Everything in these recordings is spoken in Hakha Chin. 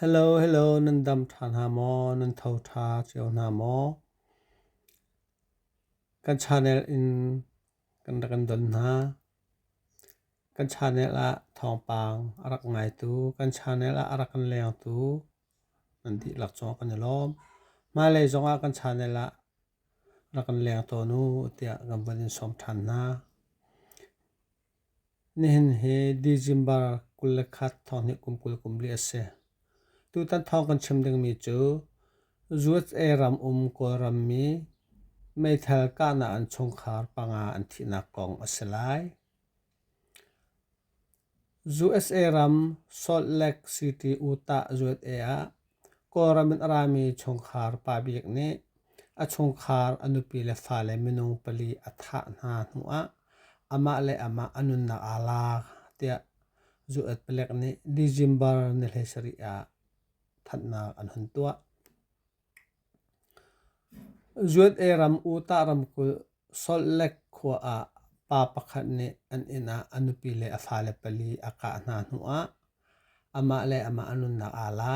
Hello hello nan dam ṭha hna maw? Nan tho ṭha cio hna maw? Kan channel in kan rak kan don hna. Kan channel ah thawngpang a rak ngaitu, kan channel ah a rak kan lengtu nan dihlak zong kan i lawm. Hmailei zong ah kan channel ah rak kan leng tawn u tiah kan van in sawm ṭhan hna. Nihin hi December kul le khat thawng hnih kum kul kum li a si. Tutan thawng kan chim dingmi cu USA ram um Kawlrammi meithal kahnak an chungkhar panga an thihnak kong a si lai. USA ram Salt Lake City, Utah, USA ah Kawlram in a rami chungkhar pa bik nih a chungkhar a nupi le fale minung pali a thah hna hnuah amah le amah a nunnak aa la tiah Zu-et palek nih December ni hlei sarih ah thanhnak an hun tuah. Zuan'e ram Utah ramkulh Salt Lake khua ah pa pakhat nih an inn ah a nupi le a fale pali a kah hna hnuah amah le amah an nunnak aa la.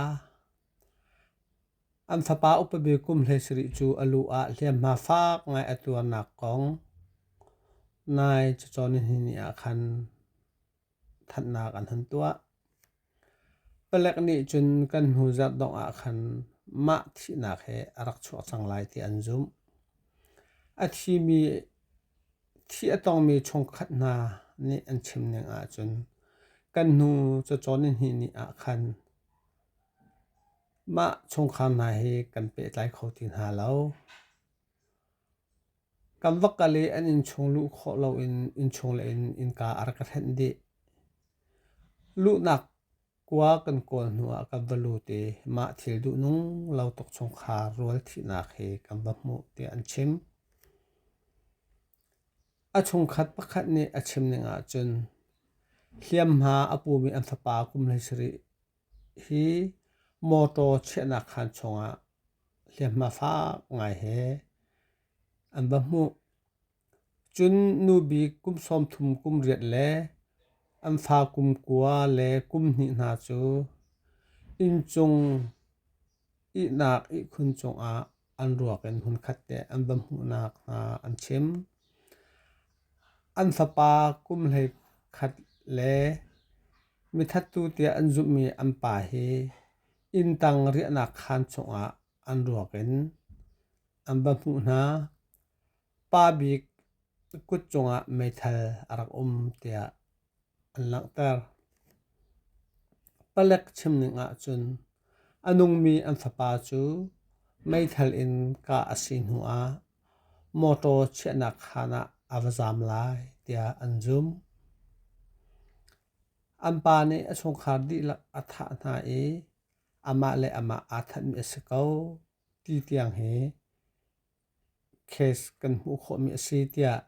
An fapa upabi kum hleisarih cu a lu ah hliamhma fak ngai a tuarnak kong nai cacawn ni hnih ah khan. Thatnak an hun tuah. Palek nih cun kan hnu zarh dongh ah khan mah thihnak hi a rak chuak cang lai ti an zumh. A thimi, thi a tongmi chungkhat hna nih an chim ning ahcun kan hnu cacawn ni hnih ni ah khan mah chungkhar hna hi kan pehtlai kho ti hna lo. Kan va kal i an innchung luh khawh loin innchung le in innka a rak ka hlenh dih. Luhnak kua kan kawl hnuah kan va lut i mah thil duhnung lo tuk chungkhar rual thihnak hi kan va hmuh tiah an chim. A chungkhat pakhat nih a chim ning ahcun hliamhma a pumi an fapa kum hlei sarih Hi motor chiahnak khaan chungah hliamhma fak ngai he an va hmuh. Cun nu bik kum sawm thum kum riat le an fa kum kua le kum hnih hna cu inncung ihnak ihkhun cungah an ruak in hmunkhat te an va hmuhnak hna an chim. An fapa kum hlei khat le mithattu tiah an zumhmi an pa hi inntang riahnak khaan chungah an ruak in an va hmuh hna. Pa bik kut cungah meithal a rak um tiah an langhter. Palek chimning ahcun a nungmi an fapa cu meithal in kah a si hnuah mawṭaw chiahnak khaan ah a va zaam lai tiah an zumh. An pa nih a chungkhar dihlak a thah hna i amah le amah aa thanhmi a si ko ti tiang hi case kan hmuh khawhmi a si tiah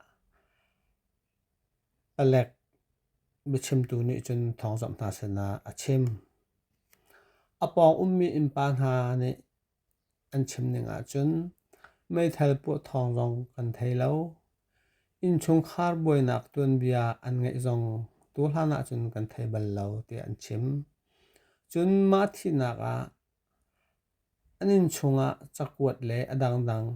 Palek biachimtu nih cun thawngzamh hna sinah a chim. A pawng ummi innpa hna nih an chim ning ahcun meithal puah thawng zong kan thei lo. Innchungkhar buainak tuanbia an ngeih zong tu hlan ahcun kan thei bal lo tiah an chim. Cun mah thihnak ah An innchungah cakuat le a dangdang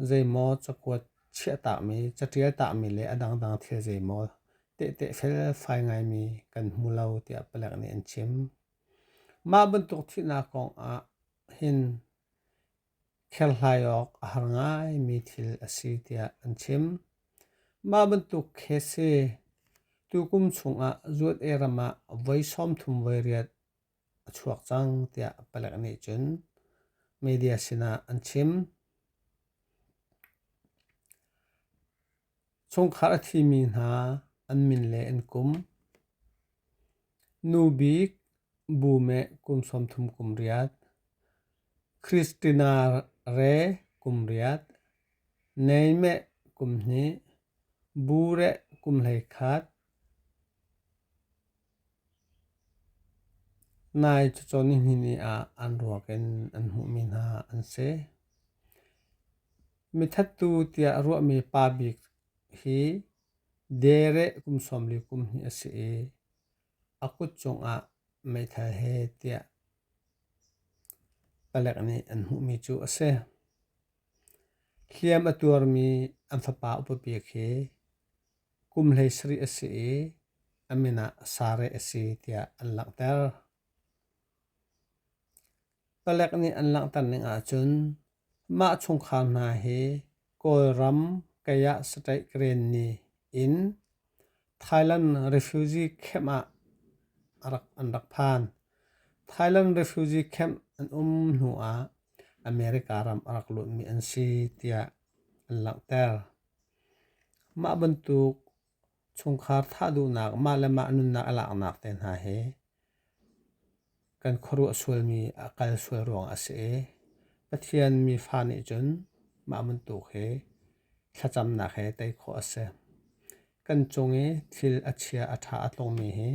zeimaw cakuat chiahtahmi, caṭialtahmi le a dangdang thil zeimaw tehte felfai ngaimi kan hmu lo tiah palek nih an chim. Mah bantuk thihnak kongah hin kherhlai awk a har ngaimi thil a si tiah an chim. Mah bantuk khese tukum chungah zuat ei ram ah voi sawmthum voi riat a chuak cang tiah palek nih cun media sinah an chim. Chungkhar a thimi hna an min le an kum. Nu bik bu meh kum sawm thum kum riat. Christina re kum riat. Nei meh kum hnih. Bu reh kum hleikhat, nai cawcaw nihnihni ah an ruak in an hmuhmi hna an si. Mithattu tiah a ruahmi pa bik hi dere kum sawmli kum hnih a si i a kut cungah meithal he tiah palek nih an hmuhmi cu a si. Hliam a tuarmi an fapa upapek hi kum hleisarih a si i a min ah Sareh a si tiah an langhter. Palek nih an langhter ning ahcun mah chungkhar hna hi Kawlram Kayah State Grenni in Thailand refugee camp ah an rak phan. Thailand refugee camp an um hnuah America ram a rak luatmi an si tiah an langhter. Mah bantuk chungkhar thah duhnak mah le mah nunnak a laknak te hna hi kan khuaruah sualmi a kal sual ruang a si i Pathian mi fa nih cun mah bantuk hi thlacamnak he tei khawh a si. Kan cung i thil a chia a ṭha a tlungmi hi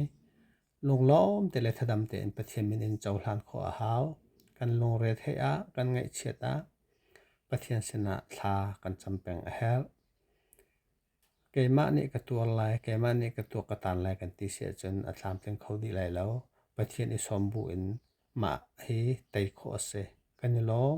Lunglawm te le thadam tein Pathian min in cohlan khawh a hau. Kan lungre theih ah, kan ngaihchiat ah, Pathian sinah thla kan cam peng a herh. Keimah nih ka tuar lai, keimah nih ka tuak ka tan lai kan ti si ahcun a tlamtling kho dih lai lo. Pathian i sawm bu in mah hi tei khawh a si. Kan i lawm.